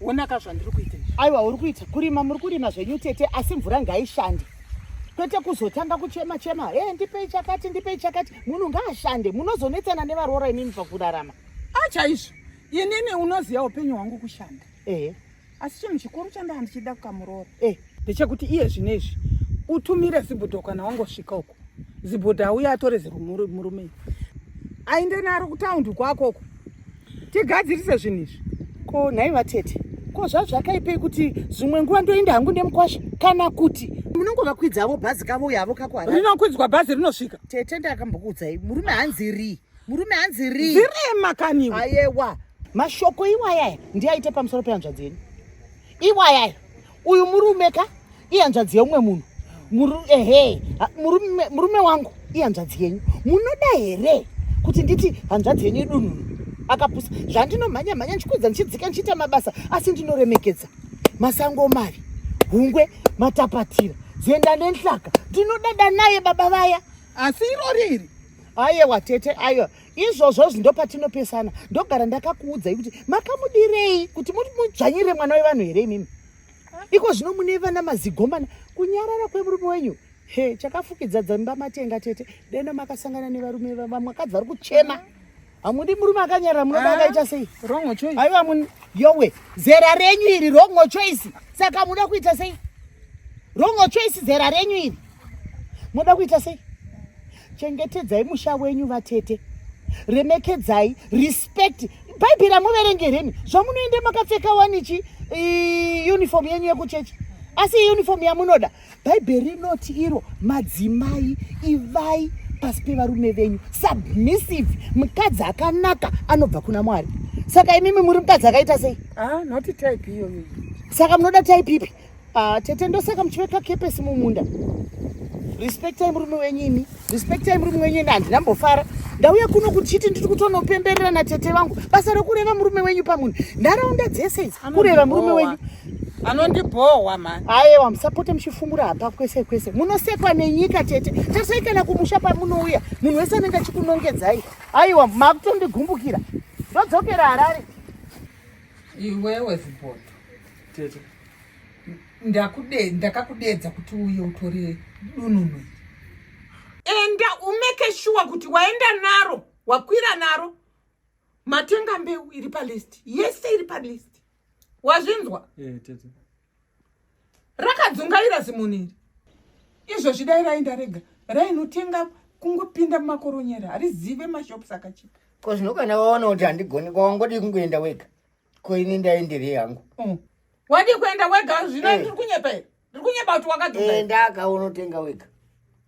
Onaka zvandiri kuita. Aiwa uri kuita kurima muri kurima zvenyu tete asi mvura ngaishande. Kwete kuzotanga kuchema chema. Eh hey, ndipei chakati ndipei chakati. Munhu ngaashande. Munozonetsana nevaroora inini pakurarama. Acha izvo. Inini unoziva upenyu hwangu kushanda. Eh. Hey. Asi chinhu chikuru chandahandichida kukamuroora. Eh. Hey. ndechekuti iye zvino izvi utumire zibhodho kana wangosvika uko zibhodho auya atore zimurume ainde naro kutaundi kwako uko tigadzirise zvinhu izvi ko nhai vatete ko zvazvakaipei kuti zvimwe nguva ndoenda hangu nemukwasha kana kuti munongovakwidzawo bhazi kavo uyavo kakwara rinokwidzwa bhazi rinosvika tete ndakambokuudzai murume hanzi rii murume hanzi rii zirema kaniwo ayewa mashoko iwayaya ndiaite pamusoro pehanzvadzi yenyu iwayaya uyu murume ka ihanzvadzi yeumwe munhu muru ehe murume murume wangu ihanzvadzi yenyu munoda here kuti nditi hanzvadzi yenyu idununu akapusa zvandinomhanya mhanya ndichikwidza ndichidzika ndichiita mabasa asi ndinoremekedza masango mari hungwe matapatira zenda nenhlaka ndinodada naye baba vaya asi irori iri ayewa tete ayo izvozvo zvindo patinopesana ndogara ndakakuudzai kuti makamudirei kuti mudzvanyire mwana wevanhu here imimi iko zvino mune vana mazigomana kunyarara kwemurume wenyu he chakafukidza dzamba matenga tete deno makasangana nevarume vamwakadzi vari kuchema hamudi murume akanyarara munoda ah, akaita sei aiwa mun yowe zera renyu iri rongo choice saka muda kuita sei rongo choice zera renyu iri munoda kuita sei chengetedzai musha wenyu vatete remekedzai respect bhaibheri amuverengereni zvamunoende makapfeka wanichi uniform yenyu yekuchechi asi uniform yamunoda bhaibheri rinoti iro madzimai ivai pasi pevarume venyu submissive mukadzi akanaka anobva kuna mwari saka imimi muri mukadzi akaita sei ah, saka munoda type ipi Ah, tete ndosaka muchiveka kepesi mumunda respectai murume wenyu imi respectai murume wenyu ende handina mbofara ndauya kuno kuchiti ndiri kutonopemberera natete vangu basa rokureva murume wenyu pamunhu nharaunda dzese idzi kureva murume wenyu anondibhohwa mani ayewa musapote muchifumura hapa kwese kwese munosekwa nenyika tete tasai kana kumusha pamunouya munhu wese anenge achikunongedzai ayewa makutondigumbukira ndodzokera harare iwewe ziboto Tete. Ndakude ndakakudedza kuti uye utore dununu. Enda umeke sure kuti waenda naro, wakwira naro. Matenga mbeu iri pa list. Yes, iri pa list. Wazvinzwa? Eh, tete. Rakadzungaira zimuniri. Izvo zvidai raenda rega. Rainotenga kungopinda mumakoronyera. Harizive mashops akachipa. Ko zvino kana waona kuti handigoni kwawangodii kungoenda wega. ko ini ndaenderei hangu mm. wadii kuenda wega zvino eh. ndiri kunyepa here ndiri kunyepa kuti wakadenda aka unotenga wega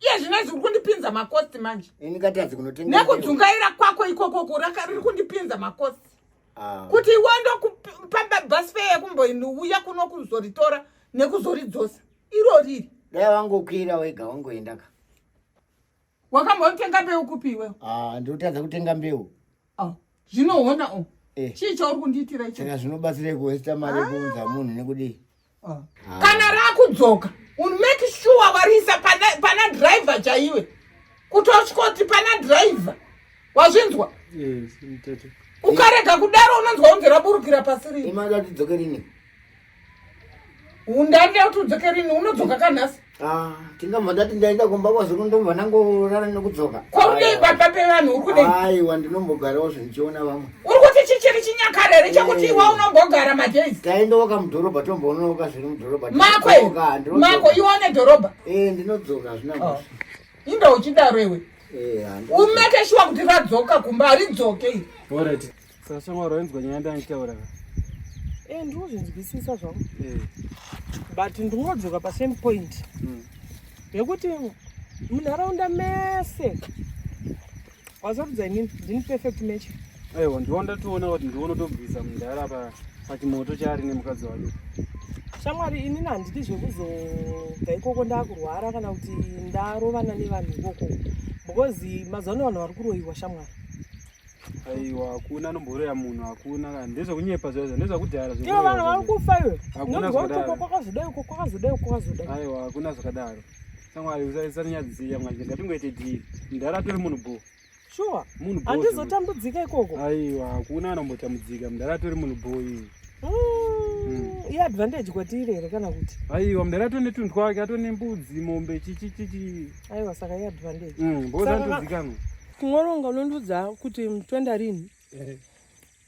iye zvino izvi uri kundipinza makosti manje ini katadzi kunotenga nekudzungaira kwako ikoko kuraka riri kundipinza makosti ah. kuti iwe ndokupa bus fare yekumboiuya kuno kuzoritora nekuzoridzosa iro riri dai wangokwira wega wangoendaka wakambotenga mbeu kupi iwewe ah, ndotadza kutenga mbeu oh, zvinoona oh. Eh. chii chauri kundiitira icho saka zvinobatsirei kuwesta mari yekuunza ah. munhu nekudii ah. ah. kana rakudzoka unmake sure wariisa pana driver chaiwe kutosvikoti pana driver wazvinzwa ukarega kudaro unonzwa unzi raburukira pasi rii undande kuti udzoke rini unodzoka kanhasi ah, tingabva ndati ndaenda kumba kwazvino ndobva ndangorara nekudzoka kwaudei baba pevanhu uri kudei aiwa ndinombogarawo zvindichiona vamwe uri kuti chichiri chinyakare here chekuti eh. iwa unombogara madays taendoka mudhorobha tomboonoka zviri mudhorobha mako mako ione dhorobha e ndinodzoka hazvina oh. masa inda uchidaro iwe eh, umekeshiwa kuti radzoka kumba haridzoke iri Saka shamwari wainzwa nyaya yandaitaura ka? Eh ndinozvinzwisisa zvangu. Eh. But ndinodzoka pa same point. Mm. Yekuti munharaunda mese wazarudza inini ndini perfect match. Aiwa ndiwo ndatoona kuti ndiwo unotobvisa mudhara pa pachimoto chaari nemukadzi wake. Shamwari inini handidi zvekuzobva ikoko ndakurwara kana kuti ndarovana nevanhu ikoko because mazuva ano vanhu vari kuroyiwa shamwari. Aiwa hakuna anomborera munhu hakuna kana ndezvekunyepa zvaizvo ndezvakudhara ivo vanhu vari kufa iwe hakuna zvakadaro kwakazodai uko kwakazodai uko kwakazodai aiwa hakuna zvakadaro samwari usanyadzisiya mwanje ngatingoite dhiri mudhara atori munhu bho shuwa munhu bho andizotambudzika ikoko aiwa hakuna anombotambudzika mudhara atori munhu bho iye iadvantage kwatiri here kana kuti aiwa mdara atone tunhu twake atone mbudzi mombe chichichichi aiwa saka iadvantage mm, boza ndozikanwa Kungoronga unondiudza kuti toenda rini? Eh.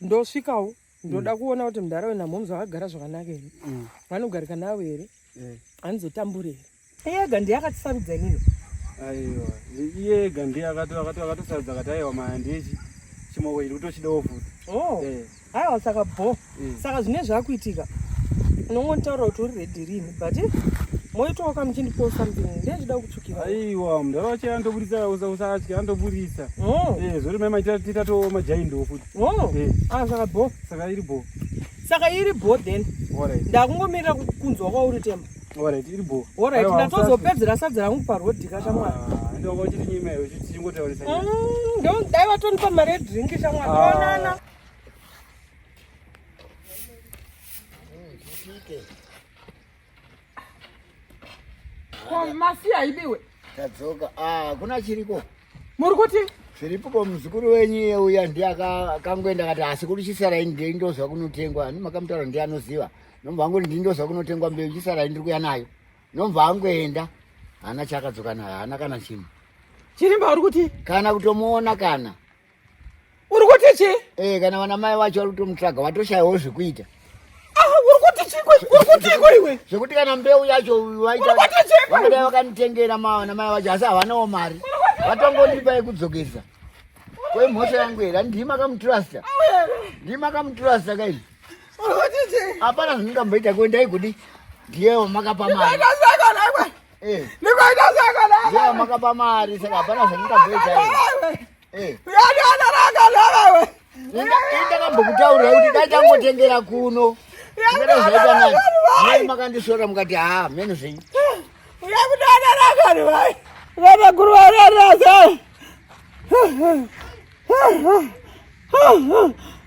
Ndosvikawo ndoda mm. kuona kuti mudhara wena mhomzi vakagara zvakanaka here? Mm. Vanogarika navo here? Eh. Anizotambure here? Ega ndiye akatisarudza inini. Aiwa, iye ega ndiye akatosarudza akati aiwa maya ndiye chimoko chiri kutochidawo futi. Oh. Eh. haiwa saka bho mm. saka zvine zvakuitika unongonitaura kuti uri redi rini but moitawo ka muchindipo something ndezvida kutsvukira aiwa mudhara wacho andoburitsa usatya andoburitsa oh. eh, zvori mai maitita to majaindiwo futi oh. eh. ah, saka bho saka iri bho saka iri bho then ndakungomirira kunzwa kwauri temba orit iri bho orit ndatozopedzera sadzi rangu parodi ka shamwari ah, ndongochiti nyima iyo chichingotaurisa mm, ndodai vatonipa mari yedrink shamwari ah. onana masi haidiwe tadzoka ah, kuna chiriko muri kuti zviripo ko muzukuru wenyu iye uya ndiye akangoenda kati asi kuri chisarai ndei ndozva kunotengwa ani makamutaura ndiye anoziva nomva angoti ndii ndozva kunotengwa mbeu chisarai ndiri kuya nayo nomva angoenda haana chaakadzoka nayo haana kana chinhu chirimba uri kuti kana kutomuona kana uri kuti chi eh kana vana mai wacho vari kutomutsvaga watoshayawo zvekuita ah, uri kuti chi uri kuti iko iwe zvekuti kana mbeu yacho waita vanodai vakanitengera mavana mai wacho asi havanawo mari vatongondipa yekudzokesa kwe mhosva yangu here andii makamutrasta ndii makamutrasta kaii hapana zvandingamboita kwe ndaigudi ndiyewo makapa mari eh. ndiyewo makapa mari saka hapana zvandingamboita Eh. Ndakambokutaurira kuti dai tangotengera kuno. Ndakada zvaita nani. Mai makandisvora mukati haa mheno zvenyu. Uya kudana rakari vai. Vana guru vararasa.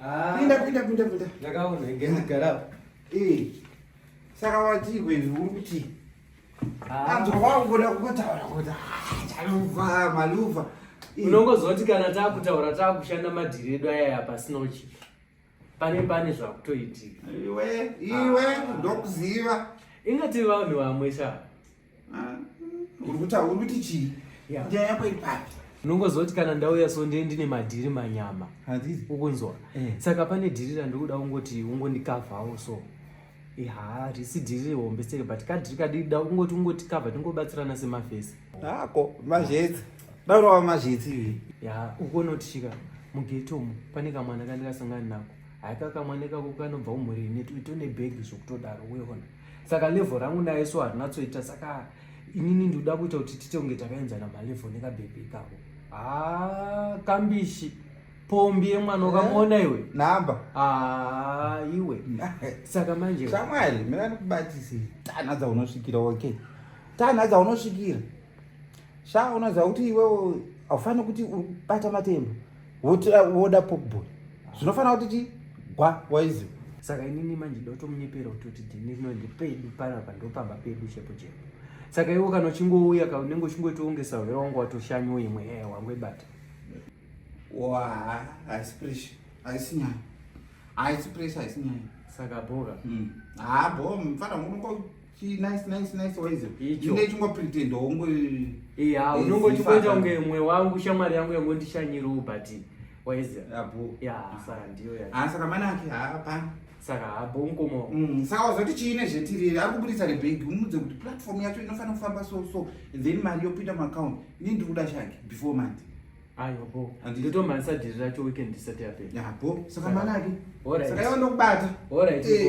Ah. Pinda pinda pinda pinda. Ndakaona ngezi garaba. Eh. Saka wati iwe uri kuti ah. anzwa wakuda kutaura kuti ah, chaluva maluva. Eh. Unongozoti kana takutaura takushanda madhiri edu aya pasina uchiti. Pane pane zvakutoitika. Iwe iwe ndokuziva. Ingati vanhu vamwe shaa. urikuti chii nyaya yako iri papi unongozoti kana ndauya so ndee ndine madhiri manyama ukunzwa eh. saka pane dhiri randikuda ungoti ungondikavhawo so ha risi dhiri hombe seke but kadhiri kadida ungoti ungoti kavha tingobatsirana semafesi hako mazhetsi daurava mazhetsi ivi ya ukonotisvika mugetomu pane kamwana kandikasangani nako haika kamwana ikako kanobva umhuri ine tone bhegi zvokutodaro weona saka level rangu naye so harinatsoita saka inini ndikuda kuita kuti tite kunge takaenzana malevel nekabhebhi ikako haa ah, kambishi pombi yemwana ukamuona eh? iwe namba haa ah, iwe saka manje shamwari mina ndikubatisei tanha dzaunosvikira okay tanha dzaunosvikira sha unoziva kuti iwewo haufaniri kuti urikubata matemba woda pokball zvinofanira kuti ti gwa waiziva saka inini manje ndotomunyepera kutoti ndinino ndipedu panapa ndopamba pedu chepo chepo saka iwo kana uchingouya ka unenge uchingoitoongesa hwera wangu watoshanyo imwe e eh, wangu ibata wa haisi presha haisi nyaya haisi presha haisi nyaya saka boka hmm. ha bo mfana unongo nice nice nice waize icho ne chimwe pretend hongo eh ha unongo chikoita unge mwe wangu shamari yangu yangu ndishanyiru but waize apo ya saka ndiyo ya ha saka mana ake ha pa saka ha bongo mo mm saka wazoti chine zvetiri ari kubudisa re bank umudze kuti platform yacho inofanira kufamba so so then mari yopinda mu account ni ndiri kuda shaki before month ayo bo ndito mansa diri racho weekend isati yapera ya bo saka mana ake ora saka yondokubata ora ite